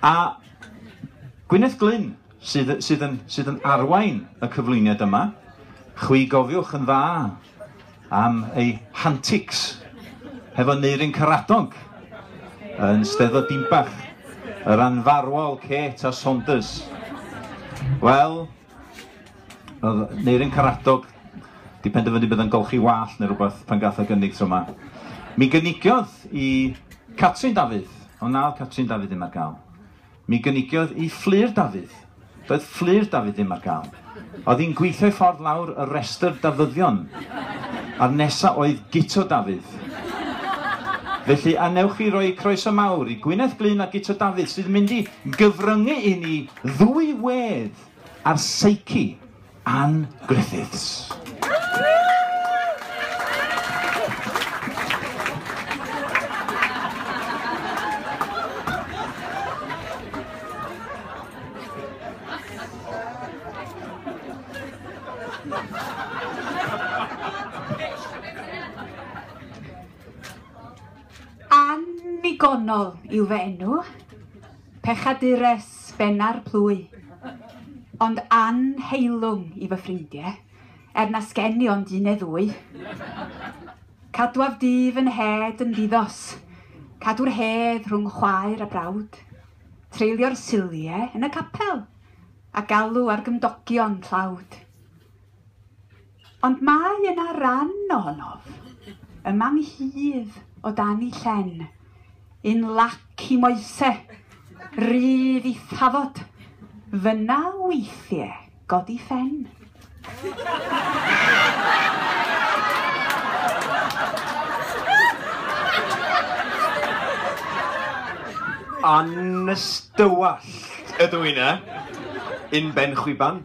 A Gwyneth Glyn sydd, sydd, yn, sydd yn arwain y cyflwyniad yma. Chwi gofiwch yn dda am ei hantics hefo Neirin Caradonc yn Steddfod Dimbach, yr anfarwol Kate a Saunders. Wel, Oedd Neirin Karadog 'di penderfynu bydd yn golchi wallt neu rhywbeth pan gath y gynnig tro 'ma. Mi gynigiodd i Catrin Dafydd, ond na oedd Catrin Dafydd ddim ar gael. Mi gynigiodd i Fflur Dafydd. Doedd Fflur Dafydd ddim ar gael. Oedd hi'n gweithio'i ffordd lawr y rhestr Dafyddion. A'r nesa oedd Guto Dafydd. Felly a wnewch chi roi croeso mawr i Gwyneth Glyn a Guto Dafydd sydd yn mynd i gyfryngu i ni Ddwy wedd ar seici Ann Griffiths. Annigonol yw fy enw. Pechadures benna'r plwy. Ond annheilwng i fy ffrindie, er na sgen i ond un ne ddwy. Cadwaf dy fy nhed yn ddi-ddos, cadw'r hedd rhwng chwaer a brawd, treulio'r sulie yn y capel, a galw ar gymdogion tlawd. Ond mae yna ran ohonof, yma nghydd o dan i llen, un lac i moese, rydd i thafod, fynna weithie godi ffen. Anystywallt ydw i 'na, un ben chwiban.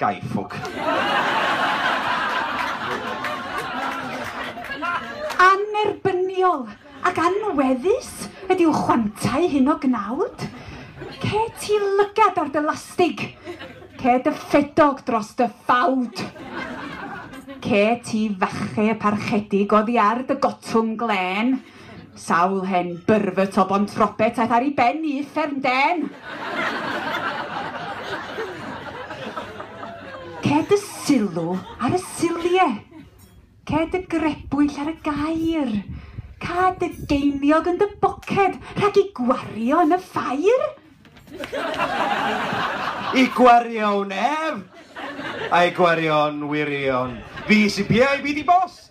Gai ffwc. Annerbyniol ac anweddus ydyw chwantau hyn o gnawd. Ce ti lygad ar dy lastig. Ce dy ffedog dros dy ffawd. Ce ti fache parchedig oddi ar dy gotwm glên. Sawl hen byrfyt o Bontrobet aeth ar ei ben i uffern den! Ced y sylw ar y sylie. Ced y grebwyll ar y gair. Cad y geiniog yn dy boced, rhag i gwario yn y ffair! I gwario wn ef! A'i gwario yn wirion. Fi sy piau, fi di boss!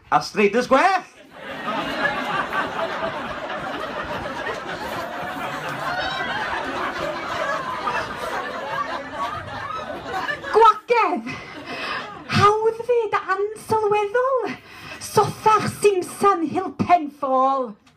A'r streidys gwell! Gwagedd! Hawdd fyd ansylweddol! Sothach simsan Hill Pen Fall!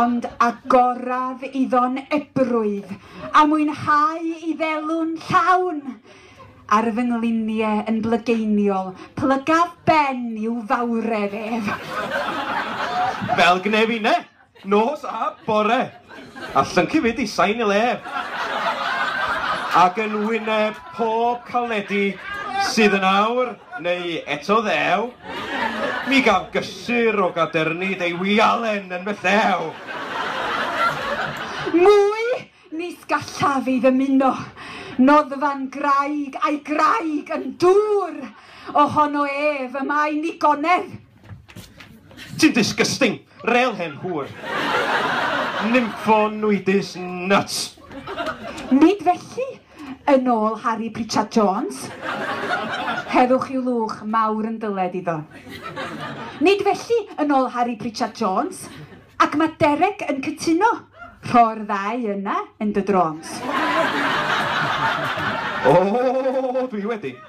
ond agoraf iddo'n ebrwydd a mwynhau i ddelw'n llawn ar fy nglinie yn blygeiniol, plygaf ben i'w fawredd ef. Fel gnef inne, nos a bore, a llyncu fyd i sain y lef, ac yn wyneb pob caledi sydd yn awr, Neu eto ddew, Mi gaf gysur o gadernid ei wialen yn fy llew! Mwy! Nis gallaf ei ddymuno! Noddfa'n graig, a'i graig yn dŵr! O hono ef, y mae nigonedd! Ti'n disgusting! Rêl hen hŵr! Nympho nwydus nuts! Nid felly! Yn ôl Harri Pritchard Jones, Heddwch yw lwch mawr yn dyled iddo. Nid felly, yn ôl Harri Pritchard Jones, ac mae Derek yn cytuno, rho'r ddau yna yn dy drôns. O, dwi wedi!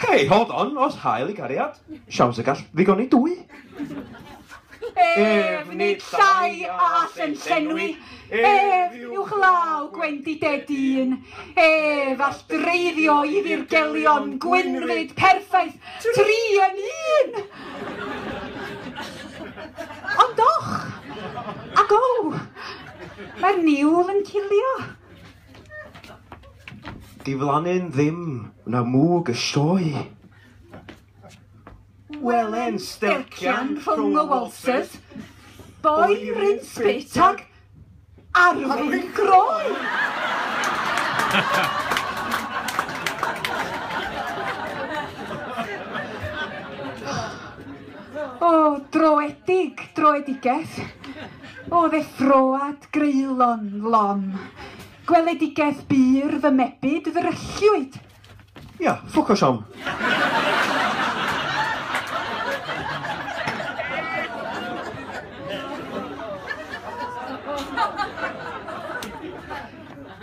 Hei, hold on, os hael i gariad, siawns y gall ddigoni dwy. Ef nid llai a all yn llenwi, ef yw glaw gwendided un, ef all dreiddio i ddirgelion gwynfyd perffaith tri yn un. Ond och, ac o, mae'r niwl yn cilio. Diflannu'n ddim na mwg y sioe. Welen stelcian rhwng y waltzers, boen ryn spit ag arwyn groen! O, droedig, droedigaeth. O ddeffroad greulon lon, gweledigaeth bur fy mebyd ddrylliwyd. Ia, ffwc o siom.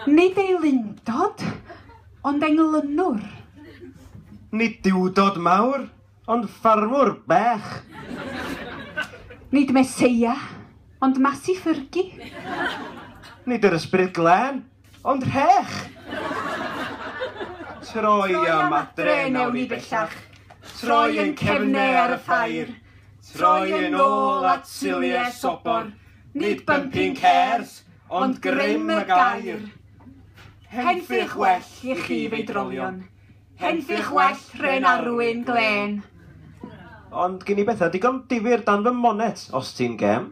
Nid ei lundod, ond englynwr. Nid duwdod mawr, Ond ffarmwr bach! Nid Meseia, ond Masi Ffyrgi! Nid yr Ysbryd Glân, ond rhech! Troi am adre, nawn ni bellach, troi ein cefne ar y ffair, troi yn ôl at Silje Sobor, nid bumping cars, ond grym y gair! Henffych well i chi feidrolion! Henffych well rhen arwyn glên. Ond gin i bethau digon difyr dan fy monet, os ti'n gem.